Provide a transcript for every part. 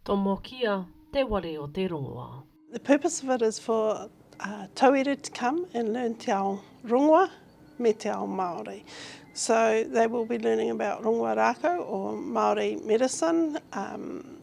Tomokia te ware o te rongoa. The purpose of it is for tauira to come and learn te ao rongoa me te ao Māori. So they will be learning about rongoa rākau or Māori medicine.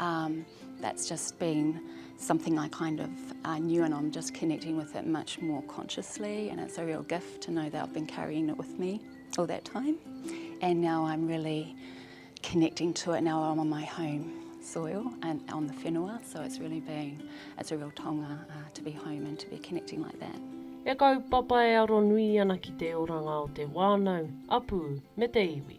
Um, that's just been something I kind of uh, knew and I'm just connecting with it much more consciously and it's a real gift to know that I've been carrying it with me all that time and now I'm really connecting to it now I'm on my home soil and on the whenua so it's really been it's a real tonga uh, to be home and to be connecting like that. E kaupapa e aro nui ana ki te oranga o te wānau, apu me te iwi.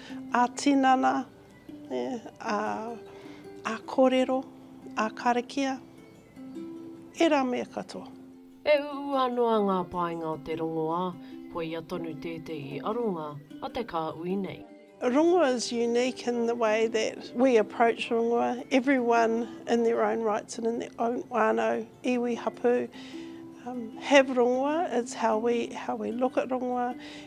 Ā-tinana, ā-kōrero, ā-karakia, ērā mea katoa. E uua noa ngā painga o te rongoā, koia tonu tētehi aronga a te kāhui nei. Rongoā is unique in the way that we approach rongoā, everyone in their own rights and in their own whānau, iwi, hapū, have rongoā, it's how we look at rongoā,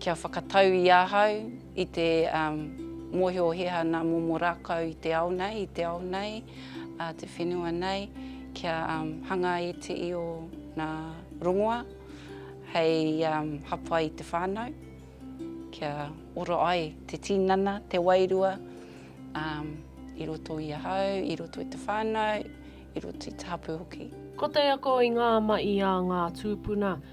Kia whakatau i ahau i te mohiohia nā momo rākau i te ao nei, i te ao nei, te whenua nei, kia hanga i te io nā rongoa hei hapa i te whānau, kia ora ai te tīnana, te wairua i roto i ahau, i roto i te whānau, i roto i te hapū hoki. Ko te ako i ngā mahi a ngā tūpuna.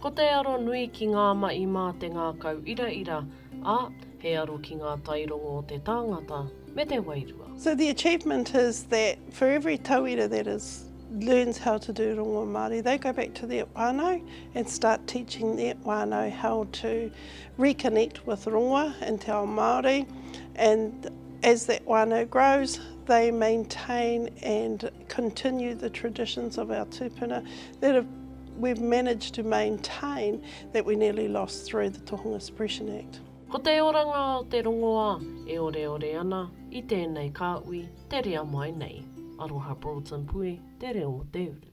Ko te aro nui ki ngā mahi mā te ngākau iraira, ā, he aro ki ngā tairongo o te tāngata me te wairua. So the achievement is that for every tauira that is learns how to do rongo Māori, they go back to their whānau and start teaching their whānau how to reconnect with rongoa and te ao Māori and as that whānau grows they maintain and continue the traditions of our tupuna that have, we've managed to maintain that we nearly lost through the Tohunga Suppression Act. Ko te oranga o te rongoā e oreore ana i tēnei kāhui te rea mai nei. Aroha Broughton Pui, Te Reo o te Uru.